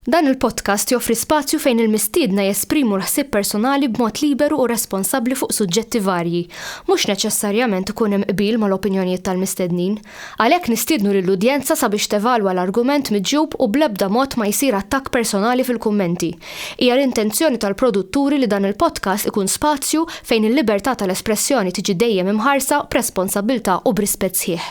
Dan il-podcast joffri spazju fejn il-mistiedna jesprimu l-ħsieb personali b'mod liberu u responsabbli fuq suġġetti varji. Mhux neċessarjament ikun hemm qbil mal-opinjonijiet tal-mistednin. Għalhekk nistiednu lill-udjenza sabiex tevalwa l-argument miġjub u bl-ebda mod ma jsir attakk personali fil-kummenti. Hija l-intenzjoni tal-produtturi li dan il-podcast ikun spazju fejn il-libertà tal-espressjoni tiġi dejjem imħarsa b'responsabbiltà u b'rispett sħiħ.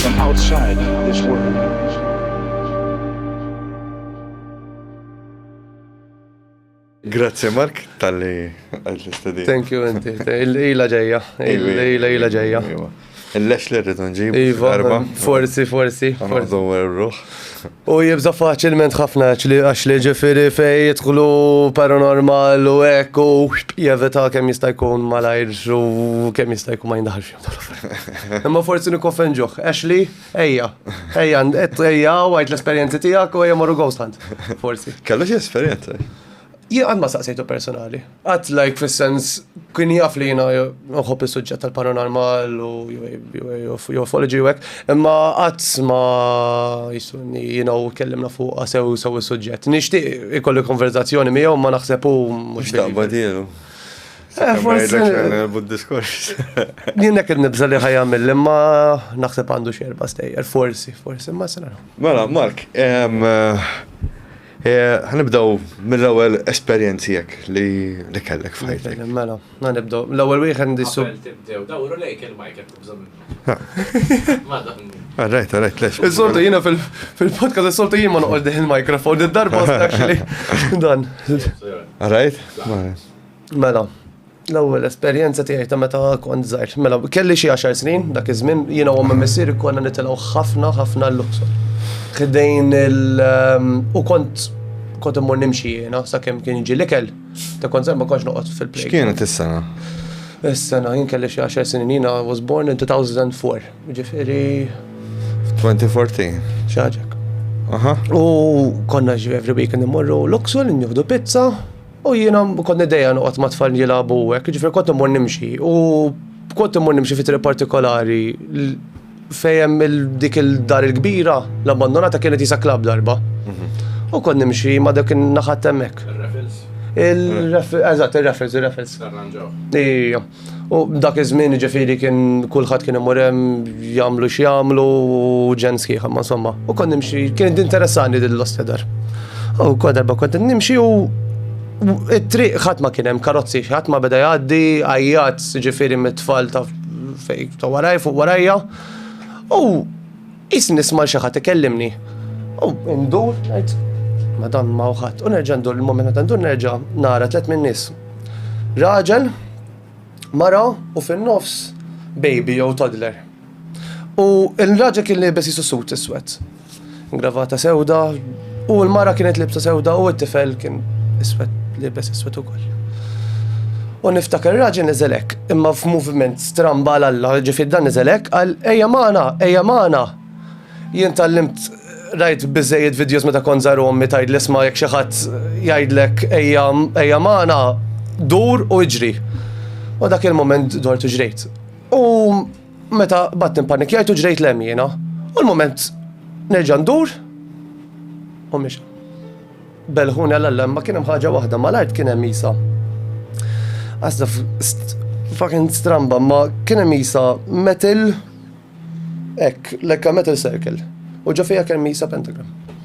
from outside this world. Grazie Mark, tal-li għajt l-istedi. Thank you, inti. Il-lejla ġeja. Il-lejla ġeja. Il-lex li rridu nġib. Iva, forsi, forsi. Għandu ruħ. U jibza faċilment ħafna li għax li ġifiri fej jitħlu paranormal u ekku jevita kem jistajkun malajr u kem jistajkun ma jindaħx. Imma forsi nikkoffenġuħ. Ashley, ejja, ejja, ejja, għajt l-esperienzi tijak u ejja marru ghost hunt. Forsi. Kellu xie esperienza? Jien għad ma saqsejtu personali. Għad like fil-sens kien jaf li jina nħob il-sujġet tal-paranormal u ufology u għek, imma għad ma jisunni jina u kellimna fuq sew sew il-sujġet. Nishti ikolli konverzazzjoni miegħu ma naħsebu mux. Xtaqba dielu. Eh, forsi. Bud-diskors. Jien hekk nibża li ħajamil imma naħseb għandu xerba stejjer, forsi, forsi, ma sena. Mela, Mark, Eh, ħanibdaw mill-ewwel esperjenzi jekk li kellek f'ħajtek. Mela, ħanibdaw. L-ewwel wieħed ndissu. Tibdew, dawru lejk il-mike qed tibżgħu minnu. Għarrajt, għarrajt, lex. Is-soltu jiena fil-podcast, is-soltu jien ma noqgħod il-mikrofon, id-darba actually. Dan. Għarrajt? Mela, l-ewwel esperjenza tiegħi ta' meta kont żgħir. Mela, kelli xi għaxar snin dak iż-żmien, jiena u missier konna nitilgħu ħafna ħafna l-Luxor. Ħdejn il ehm, u kont kont immur nimxi jiena sakemm kien jiġi l-ikel, ta' kont ma kontx noqgħod fil-play. X'kienet is-sena? Is-sena jien kelli xi għaxar snin jiena was born in 2004, ġifieri 2014. Xaġek. Aha. U konna every weekend immorru Luxor, nieħdu pizza, U jiena kont niddejja noqgħod ma' tfal jilagħbu hekk, jiġifieri kont immur nimxi u kont immur nimxi fi triq partikolari fejem dik il-dar il-kbira l-abbandonata kienet jisa klab darba. U kont nimxi ma dak naħat hemmhekk. Il-raffles. Eżatt, il-raffles, il-raffles. Arranġaw. Ija. U dak iż-żmien jiġifieri kien kulħadd kien imur hemm jagħmlu x'jagħmlu u ġen sħiħ ma insomma. U kont nimxi, kien interessani din l-ostedar. U kont darba kont nimxi u it-triq ħadd ma kien hemm karozzi, ħadd ma beda jgħaddi, għajjat ġifieri mit-tfal ta' fej ta' waraj fuq warajja. U Qisni nisma' 'l xi ħadd ikellimni u ndur ngħid, Madam m'hawn ħadd. U nerġa' ndur, il-mument meta ndur nerġa' nara tliet min-nies. Raġel, mara u fin-nofs baby jew toddler. U l-raġel kien liebes qisu sut iswed. Gravata sewda, U l-mara kienet libsa sewda u t-tifel kien iswed, libes iswed ukoll. U niftakar raġel nizelek, imma f'moviment stramba għal Alla, ġifid dan nizelek, għal eja maħna, eja maħna. Jien tal-limt rajt bizzejiet videos meta kon zaru ommi tajd l-isma jek xaħat jajdlek eja maħna, dur u iġri. U dak il-moment dort u ġrejt. U Meta bat nimpanikjajt u ġrejt lem jiena. U l-moment nerġa' ndur u miex. Belħuni għal-allem ma kien hemm ħaġa waħda mal-art kien hemm Isa. Għasda fucking stramba ma kien hemm Isa metal ek, lekka metal circle. U ġo fija kien Isa pentagram.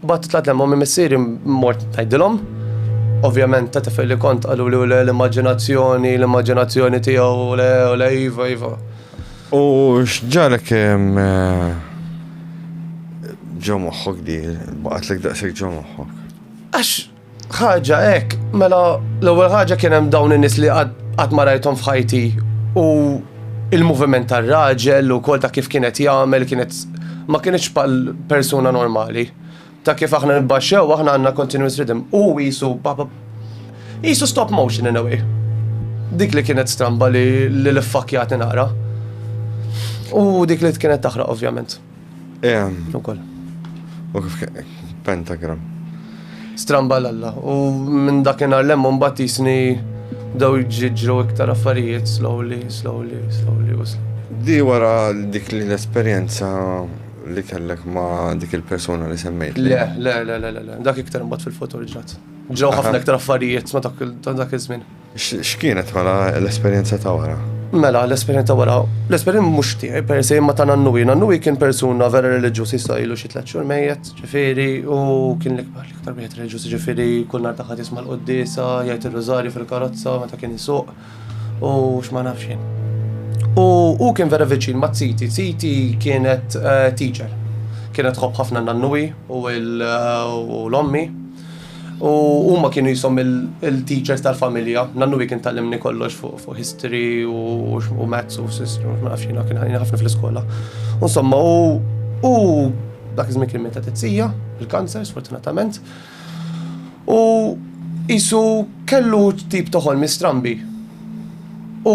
Mbagħad tlaqt lejn mommy missieri mort ngħidilhom. Ovvjament ta' tifel li kont qaluli u le l-immaġinazzjoni, l-immaġinazzjoni tiegħu u le u le iva iva. U x'ġarek ġo moħħok di baqgħetlek daqshekk ġo moħħok? Għax Ħaġa hekk, mela l-ewwel ħaġa kien hemm dawn in-nies li qatt ma rajthom f'ħajti u il-moviment tar-raġel ukoll ta' kif kienet jagħmel kienet ma kienitx bħal persuna normali. Ta' kif aħna nibbaxxew aħna għandna continuous rhythm u qisu qisu stop motion in a way. Dik li kienet stramba li l-iffakjati naqra. U dik li kienet taħraq ovvjament. Ukoll. U kif pentagram. Stramba l-alla. U minn dakinhar lemmu mbagħad jisni daw jġiġru iktar affarijiet slowly, slowly, slowly u slowly. Di wara dik l-esperjenza li kellek ma' dik il-persuna li semmejt. Le, le, le, le, le, dak iktar mbagħad fil-futur ġrat. Ġraw ħafna iktar affarijiet ma' dak iż-żmien. X'kienet mela l-esperjenza ta' wara? Mela, l-esperjenza ta' wara, l-esperjenza mhux tiegħi per se imma ta' Nannuwi. Nannuwi kien persuna vera reliġjuż issa ilu xi tliet xhur mejjet, ġifieri, u kien l-ikbar, l-iktar wieħed reliġjuż, ġifieri kull nhar ta' Ħadd jisma' l-quddiesa, jgħid ir-rużarju fil-karozza meta kien isuq u x'ma nafx jien. U hu kien vera viċin ma' ziti, ziti kienet teacher. Kienet tħobb ħafna Nannuwi u l-ommi U huma kienu jisom il-teachers tal-familja, nannu wi kien tal-limni kollox fuq history u maths u sistru, ma nafx jina kien ħafna fl-iskola. Insomma, u dak iż-żmien kien meta tizzija, il-kanser, sfortunatament. U jisu kellu tip toħol mistrambi. U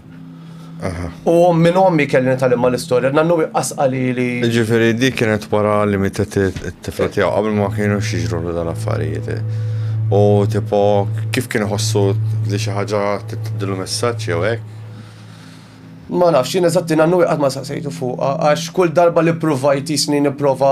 U minn ommi kelli nitalimma l-istorja, nannu iqqas qalili. Ġifiri, dik kienet wara li mitet it-tifla tiegħu qabel ma kienu xieġru l dal-affarijiet. U tipo, kif kien ħossu li xi ħaġa titdilu messaġġ jew hekk? Ma nafx, jien eżatti nannu iqqas ma saqsejtu fuqha, għax kull darba li provajt jisni nipprova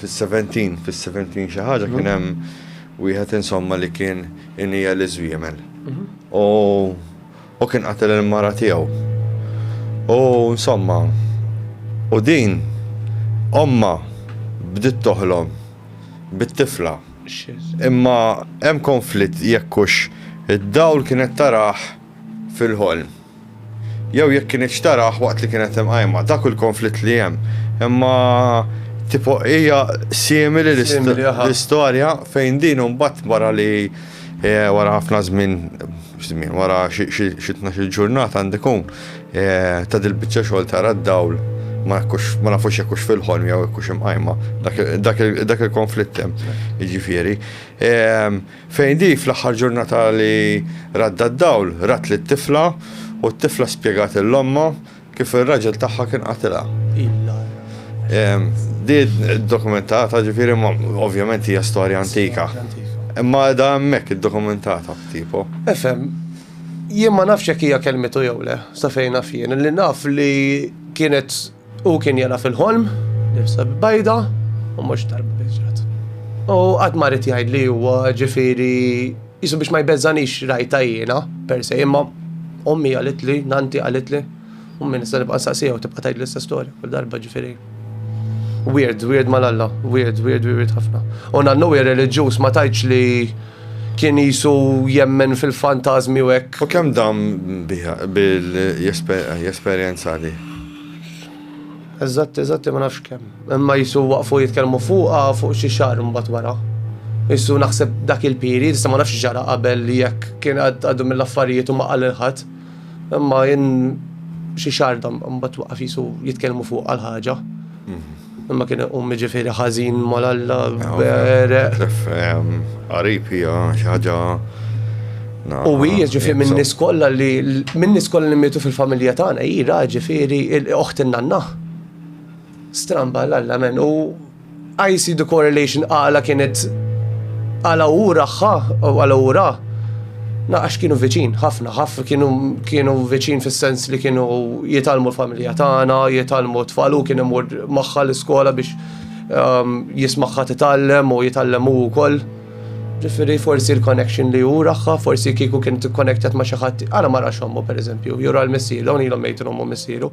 Fis-seventeen, fis-seventeen xi ħaġa kien hemm wieħed insomma li kien iniegħel iż-żwiemel. U kien qatel il-mara tiegħu. U insomma, u din ommha bdiet toħlom bit-tifla. Imma hemm konflitt jekk hux id-dawl kienet tarah fil-ħolm. Jew jekk kinitx tarah waqt li kienet imqajma. Dak hu l-konflitt li hemm. Imma tipo hija simili l-istorja fejn din imbagħad wara li wara ħafna żmien, żmien, wara xi tnax-il ġurnata għandu jkun, ta' dil-biċċa xogħol tara d-dawl, ma nafux jekk hux fil-ħolm jew jekk hux imqajma. Dak il-konflitt hemm, jiġifieri. Fejn di, fl-aħħar ġurnata li radda d-dawl, rat lit-tifla u t-tifla spjegat lil ommha kif ir-raġel tagħha kien qatilha. Di ddokumentata, ġifieri, imma ovvjament hija storja antika. Imma qiegħda hemmhekk iddokumentata f'tipo. Ifhem, jien ma nafx jekk hija kellmitu jew le, sa fejn naf jien. Li naf li kienet Hu kien jara fil-ħolm, nifsa bajda, u mhux darba biġrat. U qatt ma rrid jgħid li huwa ġifieri jisu biex ma jbeżżanix rajta jiena, per se, imma ommi għalitli, nanti għalitli, u minn nista' nibqa' saqsija u tibqa' tgħid l-istess storja kull darba ġifieri. Weird, weird mal-alla, weird, weird, weird ħafna. U nannu hija reliġjuż ma tajtx li Kien qisu jemmen fil-fantażmi u hekk. U kemm dam biha, bil-esperjenza li? Eżatti, eżatti ma nafx kemm. Imma qisu waqfu jitkellmu fuqha fuq xi xahar imbagħad wara. Qisu naħseb dak il-period, issa ma nafx x'ġara qabel li jekk kien għaddu mill-affarijiet u ma qal lil ħadd. Imma jien xi xahar dam imbagħad waqaf qisu jitkellmu fuqha l-ħaġa. Imma kien iqum ġifieri ħażin mal-Alla bereq. Qarib hija xi ħaġa U hija ġifieri minn nies kollha li minn nies kollha li mietu fil-familja tagħna hi ra ġifieri oħt in-nanna. Stramba l-Alla men u I see the correlation għala kienet għala hu raħħa u għala hu ra. Naqax kienu viċin, ħafna, ħafna kienu kienu viċin fis-sens li kienu jitalmu l-familja tagħna, jitalmu t-tfalu kien imur magħha l-iskola biex um, jismaħħa titgħallem u jitgħallem hu wkoll. Ġifieri forsi l-connection li hu raħħa, forsi kieku kien tikkonektet ma' xi ħadd, għala ma rax ommu pereżempju, jura l-missieru, hawn ilhom mejtu ommu missieru.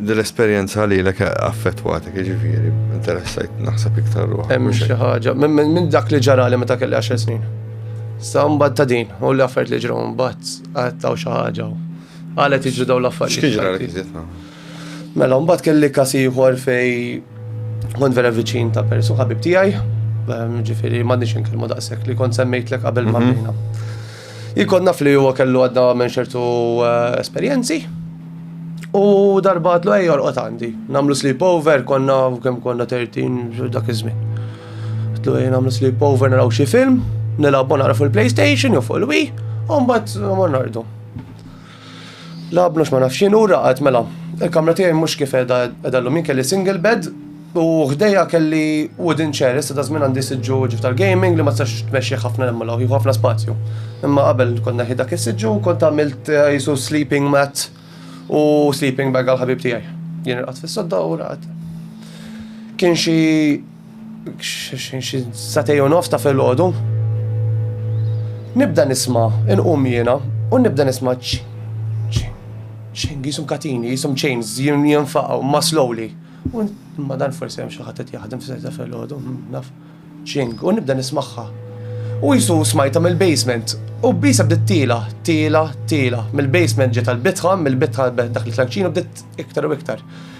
Din l-esperjenza lilek affettwatek, jiġifieri, interessajt naħseb iktar ruħ. Hemm xi ħaġa, minn dak li ġarali meta kelli 10 snin. Sa mbagħad ta' din, u li affarijiet li ġraw mbagħad għattaw xi ħaġa. Għalet jiġru dawn l-affarijiet. X'kiġralek iżjed Mela, mbagħad kelli kas ieħor fej kont vera viċin ta' persu ħabib tiegħi, ehm, ġifieri m'għandniex inkellmu daqshekk li kont semmejtlek qabel mhm. ma' Jkun naf li huwa kellu għadda minn ċertu eh, esperjenzi. U darba għatlu ej jorqot għandi. Namlu sleepover, konna kemm konna 13 dak iż-żmien. Għatlu ej namlu sleepover naraw xi film, nilgħabu nara fuq il-PlayStation jew fuq il-Wii, u mbagħad mornardu. La bnux ma nafx jien u raqad mela. Il-kamra tiegħi mhux kif qiegħda qiegħda llum jien kelli single bed u ħdejja kelli wooden chair issa ta' żmien għandi siġġu ġif tal-gaming li ma tistax tmexxih ħafna hemm law jieħu ħafna spazju. Imma qabel kont neħi dak is-siġġu u kont għamilt eh, jisu sleeping mat u sleeping bag għal ħabib tiegħi. Jien irqad fis-sodda u raqad. Kien xi Xi satej u nofs ta' filgħodu. Nibda nisma' inqum jiena u nibda nisma' ċing jisum katini, jisum chains jinfaqgħu ma' slowly. U ma dan forsi hemm xi ħadd qed jaħdem f'sejt ta' filgħodu, naf ċing u nibda nismagħha. U jisu smajta mill-basement u bisa bdiet tila, tila, tila. Mill-basement ġiet għall-bitħa, mill-bitħa dak il-klanċinu bdiet iktar u iktar.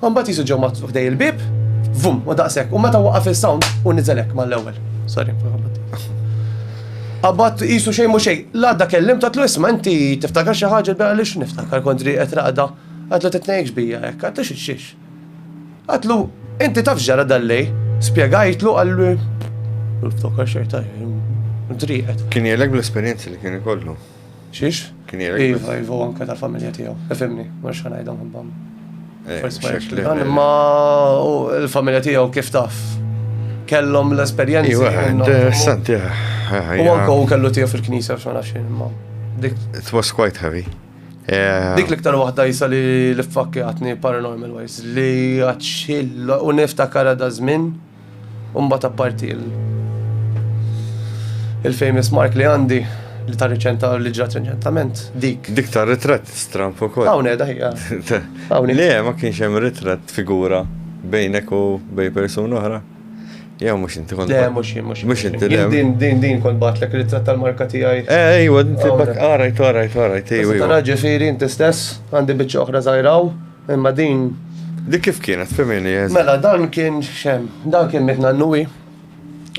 U mbagħad qisu ġew maħtut ħdej il-bieb, vum, u daqshekk. U meta waqaf is-sound u niżel hekk mal-ewwel. Sorry, Abbat jisu xej mu xej, l-għadda kellim ta' tlu isma inti tiftakar xi ħaġa bela li niftakar kontri qed raqda. Għatlu titnejx bija hekk, għatlu xiex. Għatlu, inti taf ġara dal-lej, spjegajtlu għallu. Niftakar xejn ta' driqet. Kien jelek bl-esperjenzi li kien ikollu. Xiex? Kien jgħid. Iva, iva, u anke tal-familja tiegħu. Ifimni, ma nix ħanajdhom ħibbam. Eh, ma l-familja tiegħu kif taf kellhom l-esperjenzi. Iva, interessanti. Eh, eh, u anke u kellu tiegħu fil-knisja f'xogħol għaxin, ma. It was quite heavy. Dik l-iktar waħda jisa li l-fakki għatni paranormal wise li għatxil u niftakar għadha żmien U mbagħad apparti il- il-famous mark li għandi li ta' riċenta li ġrat riċentament, dik. Dik ta' ritratt stramp ukoll. Hawn qiegħda hija. Hawn Le, ma kienx hemm ritratt figura bejnek u bej persuna oħra. Jew mhux inti kont. Le, mhux jien, mhux. Mhux inti le. Din din din kont batlek ritratt tal-marka tiegħi. Eh, ejwa, inti bak qarajt, qarajt, qarajt, ejwa. Tara ġifieri inti stess għandi biċċa oħra żgħiraw. Imma din. Dik kif kienet femini eżi? Mela dan kien xem, dan kien mit nannuwi.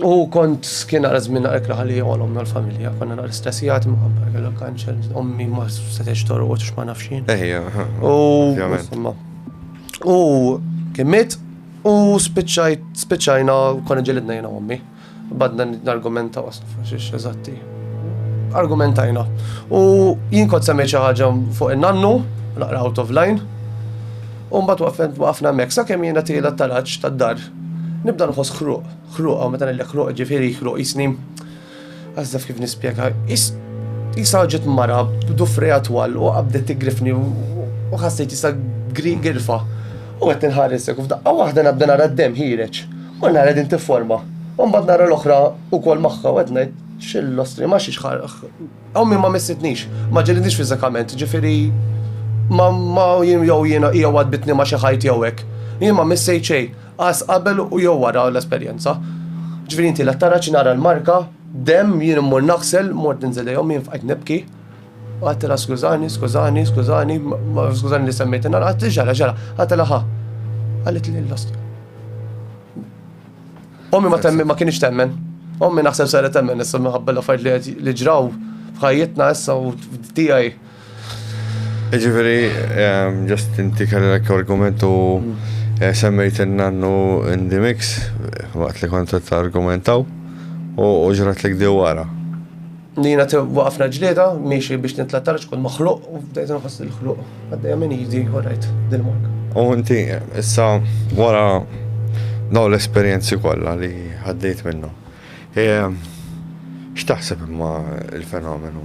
U kont kien għara żmien naqra kraħa li għolom l-familja, konna naqra stressijat ma' kellha kanċer, ommi ma setgħex torqod x'ma nafxin. Ejja, u u kien mit u spiċċajt spiċċajna konna ġelidna jiena ommi. Badna nargumentaw għax eżatti. Argumentajna. U jien kont semmejt xi ħaġa fuq in-nannu, naqra out of line. U mbagħad waqafna hemmhekk sakemm jiena tiela t-taraġġ tad-dar. Nibda nħoss ħruq, ħruq hawn meta ngħidlek ħruq ġifieri ħruq jisni. Għażaf kif nispjega. Isa ġiet mara b'dufrija twal u qabdet tigrifni u ħassejt isa grifha. U qed inħares hekk u f'daqqa waħda nabda nara d-demm ħireġ. Kull nhar qegħdin tifforma. U mbagħad nara l-oħra wkoll magħha u qed ngħid x'illostri ma xiex ħaraq. Ommi ma missitnix, ma ġelidnix fiżikament, ġifieri ma ma jien jew jiena hija waddbitni ma' xi ħajt jew hekk. Jien ma missejt xejn, qas qabel u jew wara l-esperjenza. Ġifieri inti la tara xi nara l-marka, demm, jien immur naħsel, mort ninżel lejn ommi jien fqajt nibki. Għattilha skużani, skużani, skużani, skużani li semmejt in-nar, għatti ġara, ġara, għattilha ħa. Għallit li l-lost. Ommi ma temmi ma kienx temmen. Ommi naħseb sara temmen issa minħabba l-affarijiet li ġraw f'ħajjitna issa u tiegħi. Ġifieri, ehm, ġast inti kellek argument u mm. eh, semmejt in-nannu in the mix waqt li kont argumentaw u ġrat li għdi wara. Li jina waqafna ġlieda, miexi biex nitla tara xkun maħluq u bdejt nħoss il-ħluq. Għaddejja minn jidi, u rajt dil-marka. U inti, issa, wara daw l-esperienzi kollha li għaddejt minnu. E, x'taħseb imma il-fenomenu?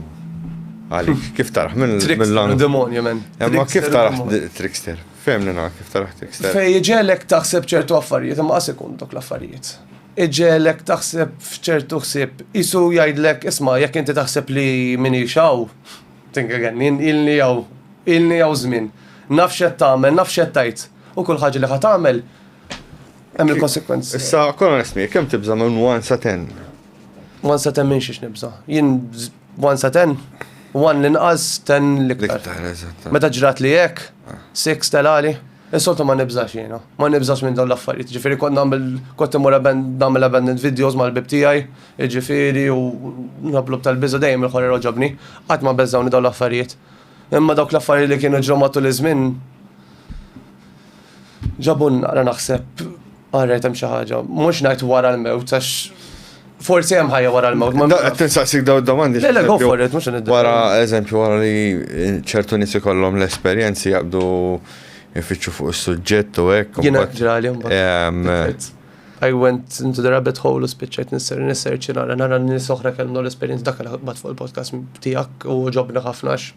Għalik, kif taraħ minn l-lang? Demonju, men. Imma kif taraħ trickster? Femnina, kif taraħ trickster? Fej ġelek taħseb ċertu affarijiet, imma għas ikun dok l-affarijiet. Iġegħlek taħseb f'ċertu ħsieb. Qisu jgħidlek, Isma', jekk inti taħseb li m'iniex hawn, think again, jien ilni hawn, ilni hawn żmien, naf x'qed tagħmel, naf x'qed tgħid, u kull ħaġa li ħa tagħmel hemm il-konsegwenzi. Issa kun onest miegħek, kemm tibża' minn one sa ten? One sa ten minn xiex nibża'. Jien one sa ten, one l-inqas, ten l-iktar. Meta ġrat li hekk, ah. six telali. Insoltu ma nibżax jiena. Ma nibżax minn dawn l-affarijiet. Jiġifieri kont nagħmel kont immur nagħmel abandoned videos mal-ħbieb tiegħi, jiġifieri u nħobblu b'tal-biża' dejjem il-ħorer għoġobni. Qatt ma beżgħuni dawn l-affarijiet. Imma dawk l-affarijiet li kienu ġraw matul iż-żmien ġabulna, ara naħseb, All right, hemm xi ħaġa. Mhux ngħid wara l-mewt għax forsi hemm ħajja wara l-mewt. Ma qed tinsaqsik daw domandi. Le, le, go for it, mhux nidda. Wara eżempju wara li ċertu nies ikollhom l-esperjenzi jaqbdu ifittxu fuq is-suġġett u hekk. Jiena ġrali mbagħad. I went into the rabbit hole u spiċċajt nisser nisser ċinara nara nies oħra kellhom l-esperjenza dak li ħadd fuq il-podcast tiegħek u ġobna ħafna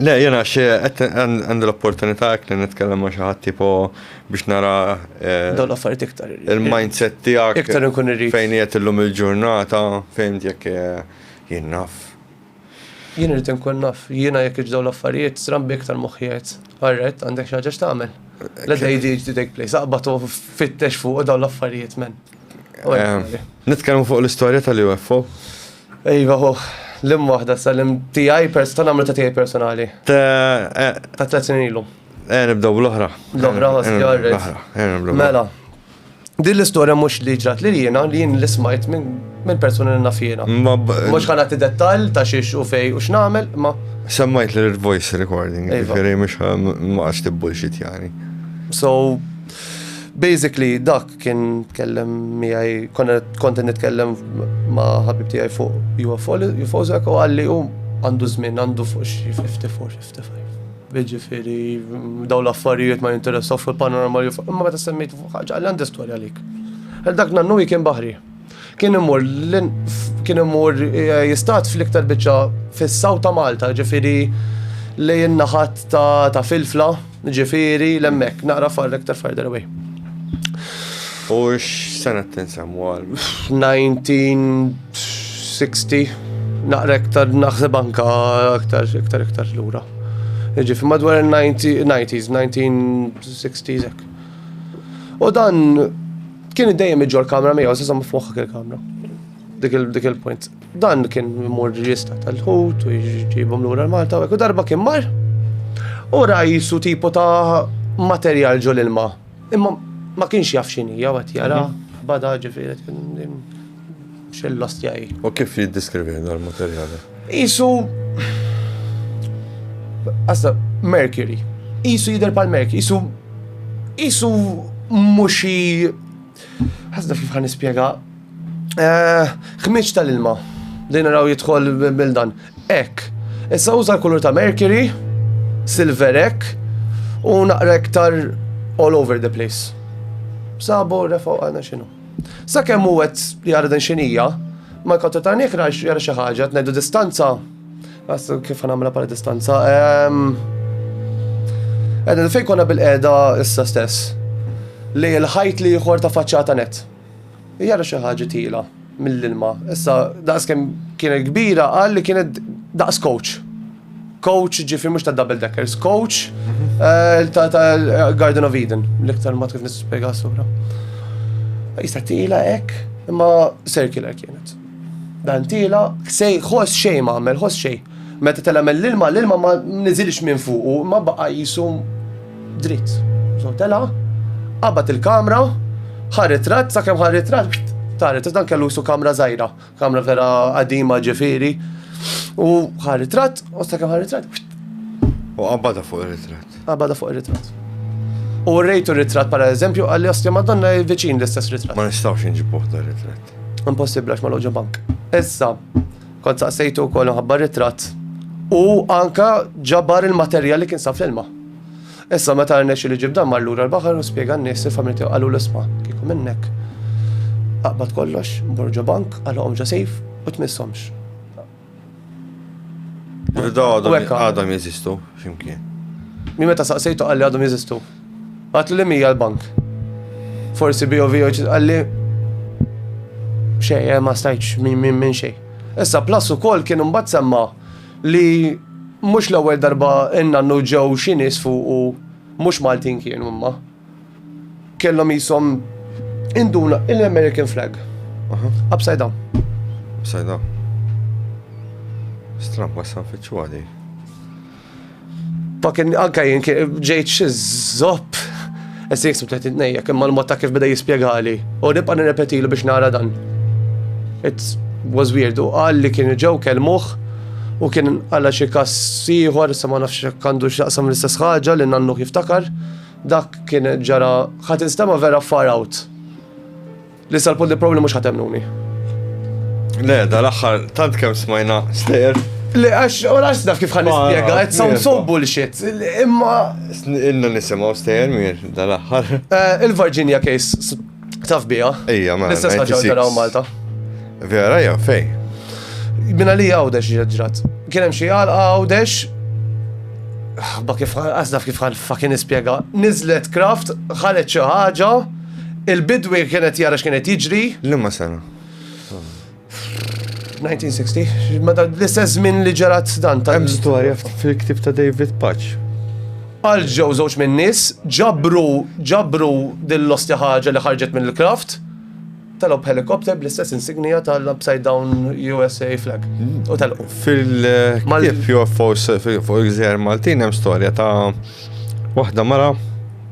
Le, jiena xi qed għandi l-opportunità hekk li nitkellem ma' xi ħadd tipo biex nara. Eh, Dawn l-affarijiet iktar. Il-mindset tiegħek. Iktar inkun irrid. Fejn qiegħed illum il-ġurnata, fejn jekk eh, jien naf. Jien irrid inkun naf, jiena jekk iġdaw l-affarijiet, srambi iktar moħħiet. Għarret, għandek xi ħaġa x'tagħmel. Let the ADHD take place, aqbad u fittex fuq dawn l-affarijiet men. Eh, nitkellmu fuq l-istorja tal-UFO. Iva hu, l-im waħda sa l-im tiegħi pers ta' nagħmlu ta' tiegħi personali. Eh, ta' tliet snin ilu. Eh, nibdew l-oħra. L-oħra eh, ħoss jarret. Mela. Din l-istorja mhux li ġrat li jiena li jien l-ismajt minn persuni li nafjena. Mhux ħana ti dettal ta' xiex u fej u x'nagħmel, ma. Semmajt li voice recording, iva. ġifieri mhux ma għax tibbulxit jani. So basically dak Kien tkellem miegħi, kont nitkellem ma' ħabib tiegħi fuq UFO, UFO zek u għalli u għandu żmien għandu fuq xi 54, 55. Ġifieri daw l-affarijiet ma jinteressaw fuq il-panorama li fuq, imma meta semmejt fuq ħaġa għalli għandi storja għalik. Dak nannu kien baħri. Kien imur kien imur eh, jistat fl-iktar biċċa fis-saw ta' Malta, ġifieri li jinnaħat ta' filfla, ġifieri l-emmek, naqra far iktar farther away. U x-sena t-tinsamu għal? 1960, naqra iktar naħseb anka iktar iktar iktar lura. Ġifi madwar il-90s, 1960s. U dan Kien dejjem iġġor kamra miegħu, se żomm f'moħħok il-kamra. Dik il-point. Dan kien mur jista tal-ħut u jġibhom lura l-Malta u darba kien mar. U rajsu tipo ta' materjal ġol ilma. Imma ma kienx jaf xinija għat jara, mhm. bada ġifiri. Xell-ostja hi. U kif jiddiskrivih dan il-materjali? Qisu. Assa, Mercury. Qisu jidher bħal Mercury, qisu. Qisu mhux xi. Ħasna kif ħan nispjega. Eh, ħmiġ tal-ilma. Din naraw jidħol bil-dan. Ek. Issa uża l-kulur ta' Mercury, Silverek, u naqra iktar all over the place. Sabu refaw għana xinu. Sakemm hu qed jara din xinija, ma jkontru ta' nikra jara xi ħaġa, tnejdu distanza. Għassu kif għamla pala distanza. Edna ehm, fej konna bil-qeda issa stess. Li l-ħajt li jħor ta' faċċata net. Jara xi ħaġa tila mill-ilma. Issa daqs kemm kienet kbira qal li kienet daqs coach. Coach, ġifri mux ta' double deckers, coach eh, ta' Garden of Eden, l-iktar ma kif nispiega s-sura. Jista' tila ek, imma circular kienet. Dan tila, sej, ħos xej ma għamel, ħos xej. Meta tela mel l-ilma, l-ilma ma nizilx minn fuqu, ma baqa jisu dritt. So tela, qabat il-kamra, ħarret rat, sakemm ħarret rat, taret, dan kellu jisu kamra zaħira. Kamra vera qadima ġifieri. U ħa ritratt, u sakemm ħa ritratt. U qabbada fuq ir-ritratt. Qabbada fuq ir-ritratt. U rejtu ritratt para eżempju għalli ostja madonna viċin l-istess ritratt. Ma nistawx nġibuħ da ritratt. Impossibli għax ma loġu bank. Issa, kont saqsejtu kol nħabba ritratt. U anka ġabar il-materjal li kien saf l-ilma. Issa meta rnexxielu jġib dan mar lura l-baħar u spjega n-nies il-familja tiegħu qalulu isma' kieku minnek aqbad kollox, mur ġo bank, qalhom ġo sejf u tmisshomx. Rida għadhom jeżistu x'imkien. Mi meta saqsejtu qalli għadhom jeżistu. Għatlu li mija l-bank. Forsi BOV qalli xej, eh, ma stajċ minn xej. Issa plus ukoll kien imbagħad semma' li mhux l-ewwel darba n-nannu ġew xi nies fuqu mhux Maltin kienu imma kellhom qishom induna l-American flag. Upside down. Upside down. Stramb wassan fiċċu għadi. Fucking anka jien ġejt xi zopp. Issa jiksib tleħt id-nejja, kemm mal-mod ta' kif beda jispjegali. U nibqa' nirrepetilu biex nara dan. It was weird. U qal li kien ġew kelmuh u kien għala xi kas ieħor, issa ma nafx kandu x'jaqsam l-istess ħaġa li nannu jiftakar. Dak kien ġara ħadd instema' vera far out. Li sal-punt li probabli mhux ħatemnuni. Le, dal-aħħar tant kemm smajna stejjer. Le, għax, u għax naf kif ħan nispjega, it sounds so bullshit. Imma. Inna nisimgħu stejjer mir dal-aħħar. Eh, Il-Virginia case taf bija. Ejja, ma. L-istess ħaġa ġaraw Malta. Vera, ja, fej. Minna li għawdex ġrat. Kienem xie għal għawdex. Ba kif għazdaf kif għal fakin ispiega. Nizlet kraft, ħalet xi ħaġa. Il-bidwi kien qed jara x'kien qed jiġri. Liema sena? 1960, meta l-istess żmien li ġerat dan ta' Hemm storja fil-ktieb ta' David Patch. Għal ġew żewġ minn nies ġabru ġabru din l-ostja ħaġa li ħarġet minn il-kraft telgħu b'helikopter bl-istess insignija tal-upside down USA flag. U telqu. Fil-ktieb UFOs fuq il-gżejjer Maltin hemm storja ta' waħda mara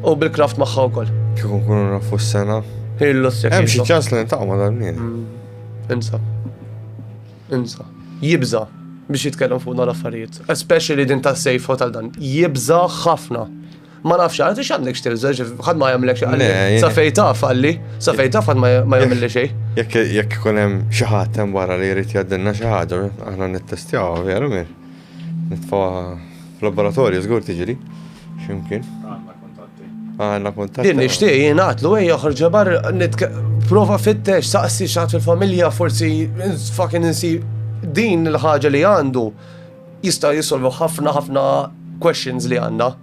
U bil-kraft magħha wkoll. Kieku nkunu nafu s-sena. Illu s-sena. Hemm xi ċans li nintaqgħu ma' dal-mien. Mm. Insa. Insa. Jibża biex jitkellem fuq dal affarijiet. Especially din ta' safe hotel dan. Jibża ħafna. Ma nafx, għad ix għandek xtilza, ħad ma jgħamlek xie għalli. Safej taf għalli, safej taf għad ma jgħamilli xie. Jek jek kunem xaħat tem barra li jrid jaddinna xaħġa, aħna nittestjaw, veru mir. Nitfgħuha f'laboratorju żgur tiġri xi mkien. Għandna kuntatti. Għandna kuntatti. Din nixtieq jien għatlu ejja ħorġa bar prova fittex saqsi x'għad fil-familja forsi fucking insib din il-ħaġa li għandu jista' jisolvu ħafna ħafna questions li għandna.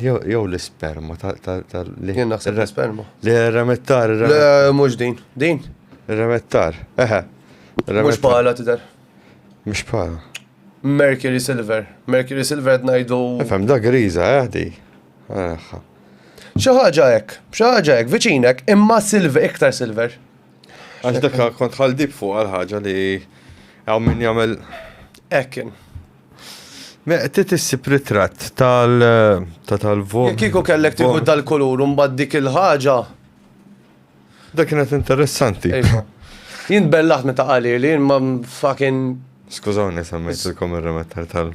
Jew l-isperma ta' li. Jien naħseb l-isperma. Le, remettar. Le, mhux din. Din? Remettar. Eħe. Mhux bħala tidher. Mhux bħala. Mercury Silver. Mercury Silver qed ngħidu. Fem da griża, eh di. Xi ħaġa hekk, xi ħaġa hekk, viċinek, imma silver, iktar silver. Għax dak kont ħaldib fuq għal ħaġa li għaw min jagħmel. Ekin. Meqtit issib ritratt tal ta' tal-vot. Jekk kieku kellek tieħu dal-kulur u mbagħad dik il-ħaġa. Dak kienet interessanti. Iva. Jien bellaħt meta qali li jien ma fucking Skużawni semmejtilkom ir-remettar tal.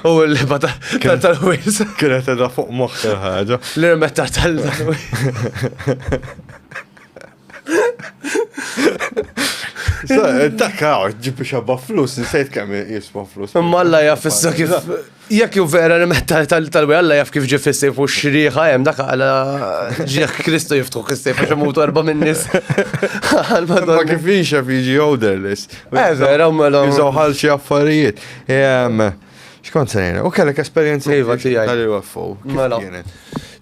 U l-liba tal-wis. Kienet edha fuq moħħ il-ħaġa. L-remettar tal-wis. Takka, ġibi xabba flus, nsejt kemm jiswa flus. Imma Alla jaf issa kif. Jekk ju vera li metta tal-wi Alla jaf kif ġif issejf u xriħa jem dak għala ġieħ Kristu jiftuħ issejf għax imut erba minn nis. Ma kif jiġi għoderlis. Eh vera, mela. Jizawħal xie affarijiet. Xkont se ngħidlek, u kellek esperjenza Iva, tiegħi. tal-UFO. kif Mela. kienet?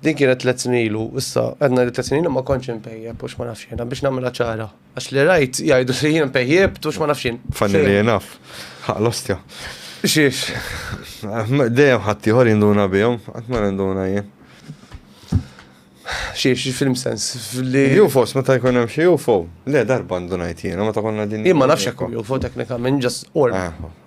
Din kienet tliet snin ilu, issa għedna li tliet snin ilu ma kontx impejjeb u x'ma nafx jiena biex nagħmilha ċara. Għax li rajt jgħidu li jien impejjebt u x'ma nafx jien. Fanni li jenaf. Ħaq l-ostja. Xiex. Dejjem ħadd ieħor jinduna bihom, qatt ma ninduna jien. Xiex, film sens. Li UFOs meta jkun hemm xi UFO. Le darba ndunajt jiena meta konna din. jien ma nafx hekk UFO teknikament just orb. Ah,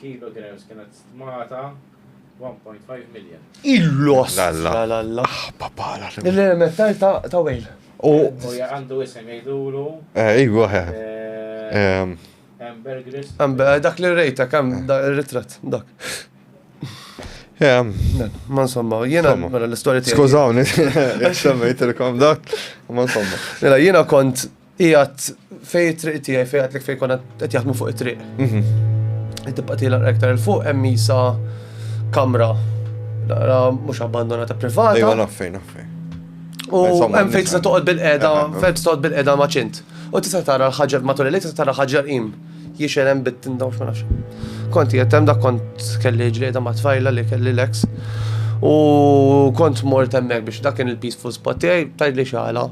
Kilo grams kienet stmata 1.5 million. Il-lost! Lalla. La lalla. Papala. Il-metall ta' ta' wejl. U. U ja għandu isem jgħidulu Eh, Iwa, he. eh, Ehm, Amber Gris. Għam, eh, Dak li rejta kam da- il-ritratt, dak. ehm, Le, Ma insomma, jiena Insomma. mela l-istorja tiegħi. Skużawni, semmejtilkom dak. Ma insomma. Mela jiena kont Ijat fej it-triq tiegħi fej għatlek fej konna qed jaħdmu fuq it-triq. Mhm. Tibqa' tiela aktar il fuq hemm isa kamra naqra mhux abbandonata privata. Ejwa naffejn naffejn. U hemm fejn tista' toqgħod bil-qeda, fejn toqgħod bil-qeda maċint. U tista' tara l-ħaġar matul il-lejl tista' tara ħaġar im. Jiexel hemm bit tindaw ma nafx. Kont qiegħed hemm dak kont kelli ġlieda ma' tfajla li kelli l-ex. U kont mort hemmhekk biex dak kien il-peaceful spot tiegħi tajt li xala.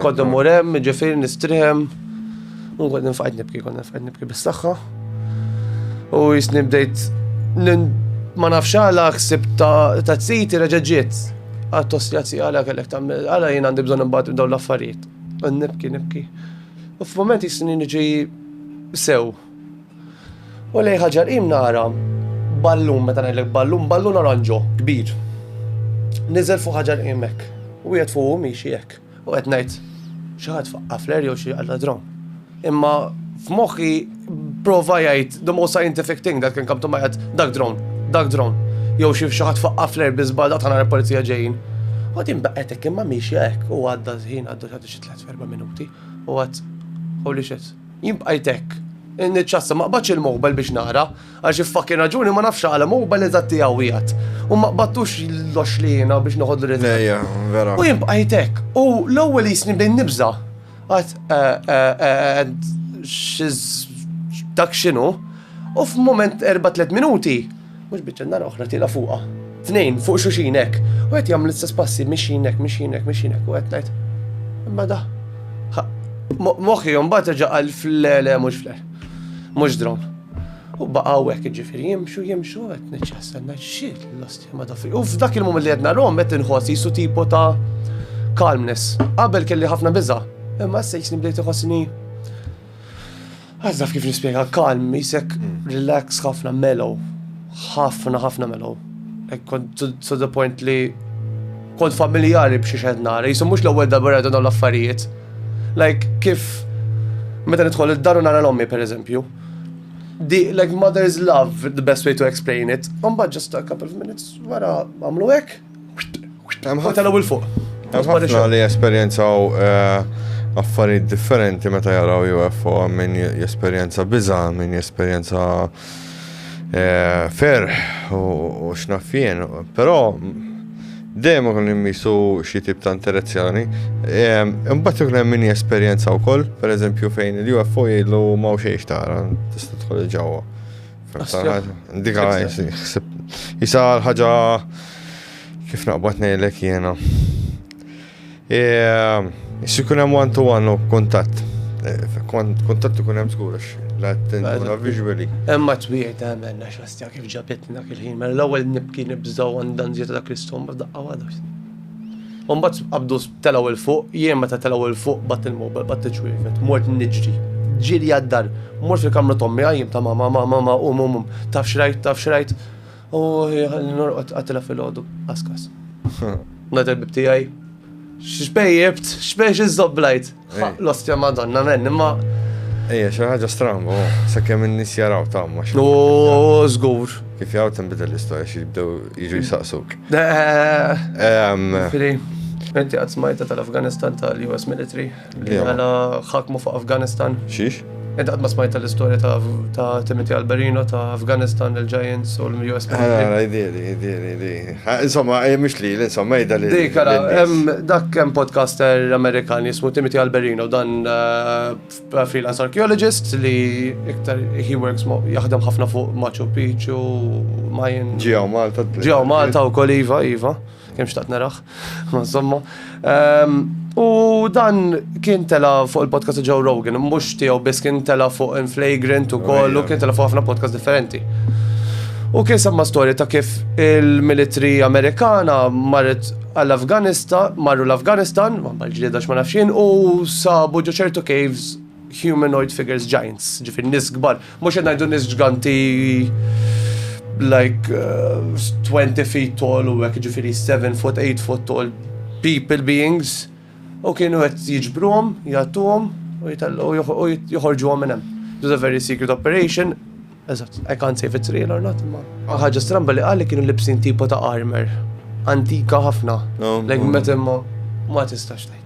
Kont mur hemm, ġifieri nistrihem. U kont nifqgħid nibki, kont nifqgħid nibki bis-saħħa. U jisni bdejt ma nafx għala ksib ta' t-siti reġeġiet għat-tosjazzi għala kellek ta' għala jien għandi bżon imbagħad dawn l-affarijiet. Nibki, nibki. U f'mument jisni niġi sew. U lejn ħaġa qim nara ballun, meta ngħidlek ballun, ballun oranġo, kbir. Niżel fuq ħaġa qim hekk. U wieħed fuq miexi hekk. U qed ngħid xi ħadd faqqa fler jew xi għalla dron. Imma f'moħħi prova jgħid the most scientific thing that can come to my head, dak dron, dak dron. Jew xi xi ħadd faqqa fler biżbal dak ħana l-polizija ġejjin. U din baqgħet hekk imma miexi hekk u għadda żħin għaddu xi tliet Erba' minuti, u għad, holy shit, jien bqajt hekk. Niċċassa ma qbadx il-mobile biex nara, għal xi fucking raġuni ma nafx għala mobile eżatt tiegħu wieħed. U ma qbadtux l-oxliena biex noħodlu l Ejja, vera. U jien bqajt hekk, u l-ewwel jisni bdejn nibża. Għad, eh, eh, eh, dak x'inhu? U f'mument erba' tliet minuti, Mhux biċċa n-nar oħra tiela' fuqha. Tnejn fuq xuxin hekk. U qed jagħmlu l-istess passi mixin hekk, mixin hekk, mixin hekk u qed ngħid. Imma da. Moħħi mbagħad reġa' qal fl-le mhux fl Mhux dron. U baqgħu hekk ġifieri jimxu jimxu qed niċċastenna xil l-osti ma dafi. U f'dak il-mument li qed narhom qed inħoss jisu tipo ta' calmness. Qabel kelli ħafna biża'. Imma se jisni bdejt iħossni Għax naf kif nispjega, calm, jisek relax ħafna mellow. ħafna ħafna mellow. To the point li kont familjari b'xi xed nara, jisu mhux l-ewwel darba rajdu dawn l-affarijiet. Like kif meta nidħol id-dar u nara l-ommi pereżempju. Di, like mother's love, the best way to explain it. Mbagħad just a couple of minutes wara għamlu hekk. Ħotel u l-fuq. Ħafna li jesperjenzaw eh, affarijiet differenti meta jaraw UFO minn jesperjenza biża, minn jesperjenza eh, fer u xnaffien. Però dejjem ikun immisu xi tip ta' interazzjoni. Eh, imbagħad ikun hemm min jesperjenza wkoll, pereżempju fejn il-UFO jgħidlu ma' xejn tara, tista' tħol ġewwa. Dik jisa ħaġa kif naqbad nejlek jena. E, Xi kun hemm one to one u kuntatt. E, kuntatt ikun hemm żgur għax l-attenzjoni visually. Hemm ma twiet għamel għax għastja kif ġabitna kil-ħin, mela l-ewwel nibki nibżgħu għandan żiet dak l-istom daqqa għadu. Mbagħad qabdu Telgħu 'l fuq, jien meta telgħu 'l fuq b'għadt il-mowbel, b'għadt iċ-ċwievet, mort niġri. Ġiri għad-dar, mort fil-kamra t'ommi, għajjimt ta' mama, mama, mama, qum, qum, qum, taf x'rajt, taf x'rajt? Oohi, ħalli norqod, qattilha filgħodu, qasqas. Ngħalaq il-bieb tiegħi. X'bejjibt? X'żobblajt? L-ostja madonna men, imma. Ejja, xi ħaġa stramba, oh, sakemm in-nies jaraw tagħma. No, żgur. Kif jgħu tinbidel l-istorja xi jibdew jiġu jsaqsuk. Fili, inti qatt smajta tal-Afganistan tal-US military li għala ħakmu fuq Afganistan. Xiex? Ed għadma smajta l-istoria ta' Timothy Alberino, ta' Afghanistan, il-Giants u l-US. Għara, idili, idili, idili. Insomma, eh, mux li, insomma, ida li. Dik, għara, dak kem podcaster Amerikan jismu Timothy Alberino, dan eh, freelance archaeologist li iktar he works jaħdem ħafna fuq Machu Picchu, Mayan. Ġijaw Malta. Ġijaw Malta u kol Iva, Iva. Kemm xtaqt naraħ, ma insomma. Ehm, u dan kien tela fuq il-podcast Joe Rogan, mhux tiegħu biss kien tela fuq Inflagrant u kollu, kien tela fuq ħafna podcast differenti. U kien semma storja ta' kif il-militri Amerikana marret għall-Afganistan, marru l-Afganistan, ma bħal ġlieda ma nafxin, u sabu ġo ċertu caves humanoid figures giants, ġifir nis gbar, Mhux qed ngħidu nies ġganti like uh, 20 feet tall u hekk ġifieri 7 foot, 8 foot tall people beings u kienu qed jiġbruhom, jagħtuhom u joħorġuhom minn hemm. It was a very secret operation Eżatt, I can't say if it's real or not, ma. ħagġa stramba li għalli kienu libsin tipo ta' armor. Antika ħafna. Like meta ma ma tistax tajt.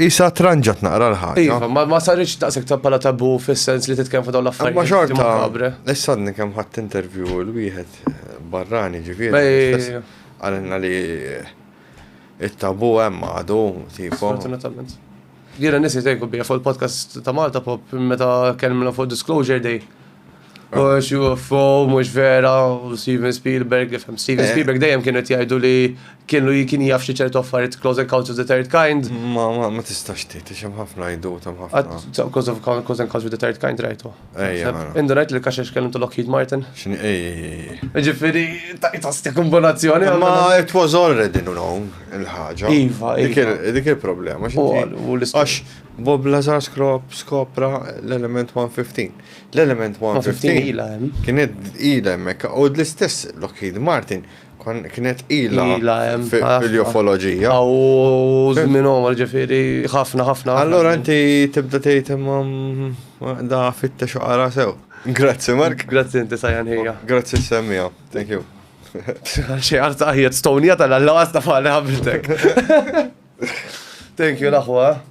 Isa tranġat naqra l-ħagġa. Iva, ma ma sarriċ taqsek ta' pala tabu fis-sens li titkellem fuq dawn l-affarijiet. Ma xorta, Kabre. issa għadni kemm ħadd interview l-wieħed eh, barrani ġifieri. Bej- Għalinna li eh, it-tabu hemm għadu, tipo. Fortunatament. Jiena nisi tejku bija fuq il-podcast ta' Malta Pop meta kellmna fuq Disclosure Day. Mhux UFO, mhux vera, u Steven Spielberg, li fem Steven eh. Spielberg dejjem kienu qed jgħidu li kienu kien jaf xi ċertu affarijiet Close Encounters of the Third Kind. Ma ma ma tistax tgħid, xem ħafna jdu tam ħafna. Close of Close Encounters of the Third Kind rajtu. Ejja. Mela. Indu rajt li kaxex kellhom ta' Lockheed Martin. X'ni ej. Ġifieri ta' tastik kombinazzjoni. Ma it was already known il-ħaġa. Iva, iva. Dik il-problema. Għax Bob Lazar skopra l-element 115. L-element 115 kienet ila hemmhekk u l-istess Lockheed Martin kienet ila fil-jofoloġija. U żmien għomar ġifieri ħafna ħafna. Allora inti tibda tgħid imma mm, da fitta xoqara sew. Grazzi Mark. Grazzi inti sajjan ħija. Grazzi semmija. Thank you. Xi għarta ħija Stonja tal-għalla għasta fali ħabiltek. Thank you l-aħwa.